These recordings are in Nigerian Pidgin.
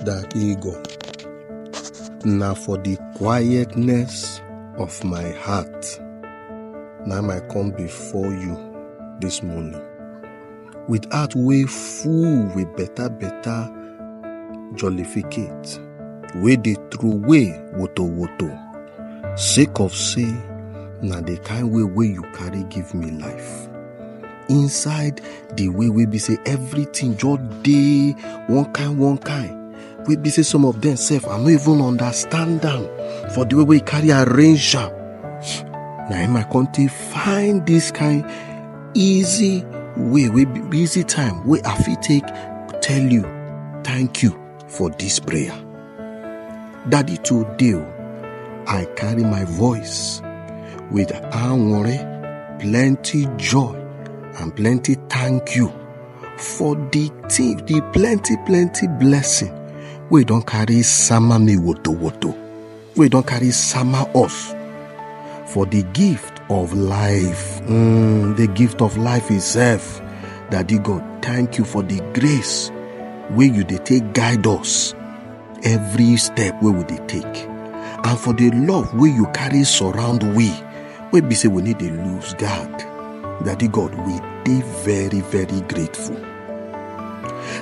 that ego. Na for the quietness of my heart. Na my come before you this morning. With heart way full with better, better jollificate. Way they throw way woto woto. Sake of say, na the kind way way you carry give me life. inside the way wey be say everything just dey one kind one kind wey be say some of them sef i no even understand am for the way wey e carry arrange am na im i come take find this kind easy way wey be easy time wey i fit take tell you thank you for this prayer. Daddy, today oh, I carry my voice with anwore, plenty joy, and plenty thank you for the thing, the plenty, plenty blessing we don't carry sama me woto woto. wey don carry sama us for the gift of life mm, the gift of life itself daddy god thank you for the grace wey you dey take guide us every step wey we dey take and for the love wey you carry surround we wey be say we need dey lose guard daddy god we dey very very grateful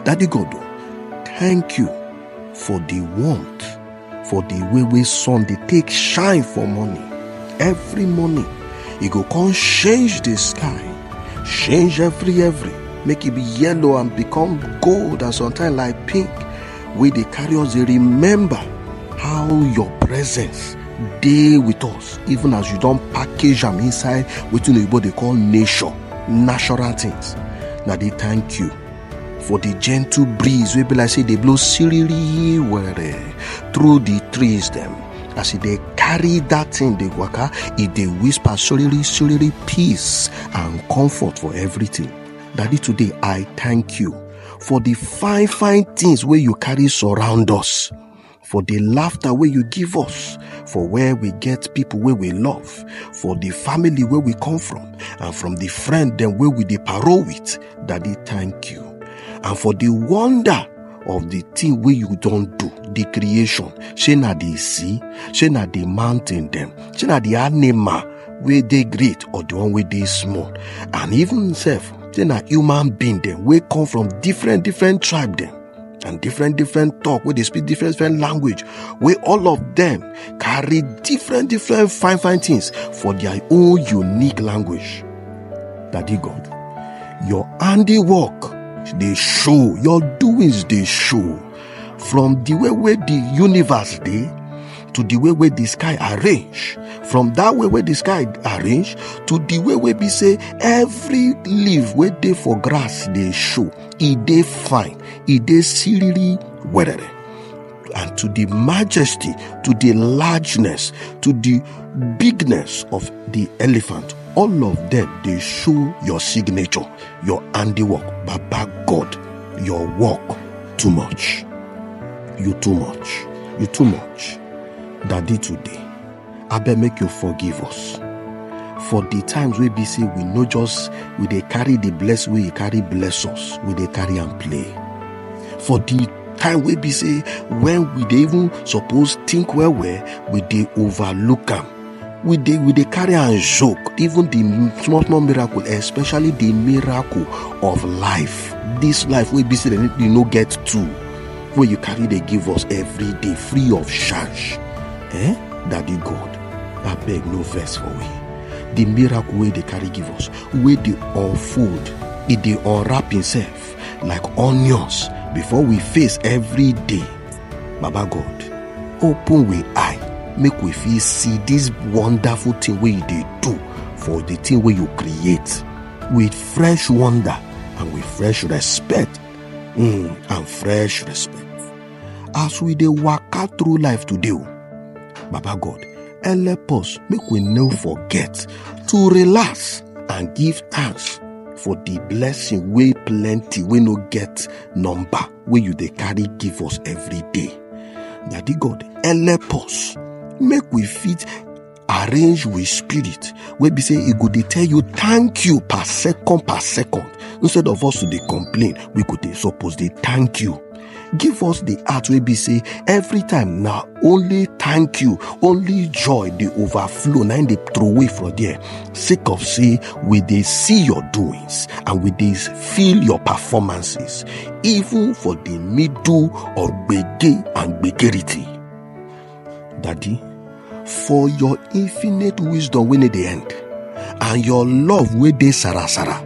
daddy god thank you for the warmth for the way wey sun dey take shine for morning every morning e go come change the sky change every every make e be yellow and become gold and sometimes like pink wey dey carry us dey remember how your presence dey with us even as you don package am inside wetin oyibo dey call nature natural things na dey thank you for the gentle breeze wey be like say dey blow siriri were through the trees dem as e dey carry that thing dey waka e dey whisper soriri soriri peace and comfort for everything daddy today i thank you for the fine fine things wey you carry surround us for the laughter wey you give us for where we get people wey we love for the family wey we come from and from the friend dem wey we dey parole with daddy thank you and for the wonder of the thing wey you don do the creation shey na the sea shey na the mountain dem shey na the animal wey dey great or the one wey dey small and even sef shey na human being dem wey come from different different tribe dem and different different talk where they speak different different language where all of them carry different different fine fine things for their own unique language daddy god your handiwork they show your doings they show from the way where the universe they to the way where the sky arrange from that way where the sky arrange to the way where we say every leaf where they for grass they show e dey fine e dey siriri werere and to the majesty to the largeness to the bigness of the elephant all of them dey show your signature your handiwork baba god your work too much you too much you too much daddy today. abeg make you forgive us for the times wey be say we no just we dey carry the bless wey you carry bless us we dey carry am play for the time wey be say when we dey even suppose think well well we dey overlook am we dey we dey carry am joke even the small small miracle especially the miracle of life this life wey be say dem no get two wey you carry dey give us every day free of charge eh daddy god abeg no vex for we the miracle wey dey carry give us wey dey unfold e dey unwrap himself like onions before we face every day baba god open we eye make we fit see this wonderful thing wey you dey do for the thing wey you create with fresh wonder and with fresh respect mm, and fresh respect as we dey waka through life today o baba god help us make we no forget to relax and give thanks for the blessing wey plenty wey no get number wey you dey carry give us every day daddy god help us make we fit arrange with spirit wey be say e go dey tell you thank you per second per second instead of us to dey complain we go dey suppose dey thank you give us the heart wey be say every time na only thank you only joy dey overflow na im dey throway for there sake of say we dey see your doings and we dey feel your performances even for the middle of gbege and gbegerity Daddy, for your infinite wisdom when it the end, and your love wey dey sarasara,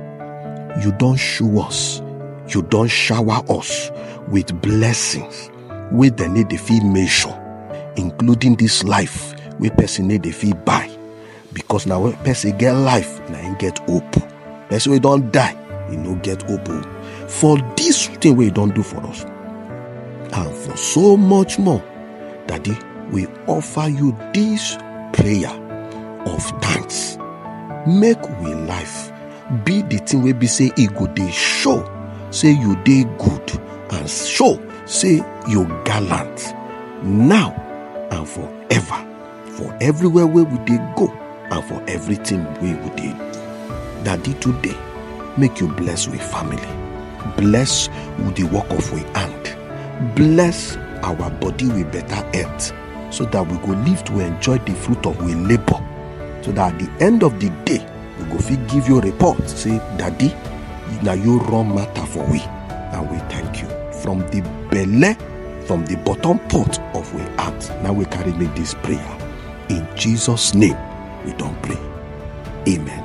you don show us, you don shower us with blessings wey dem no dey fit measure, including this life wey person no dey fit buy. because na when person get life na him get hope person wey don die he no get hope o for this thing wey he don do for us and for so much more daddy we offer you this prayer of thanks make we life be the thing wey be say e go dey show say you dey good and show say you gallant now and forever for everywhere wey we dey go and for everything wey we dey do daddy today make you bless we family bless we the work of we hand bless our body with better health so that we go live to enjoy the fruit of we labour so that at the end of the day you go fit give your report say daddy na you run matter for we and we thank you from the belle from the bottom pot of we heart na we carry make this prayer in jesus name we don pray amen.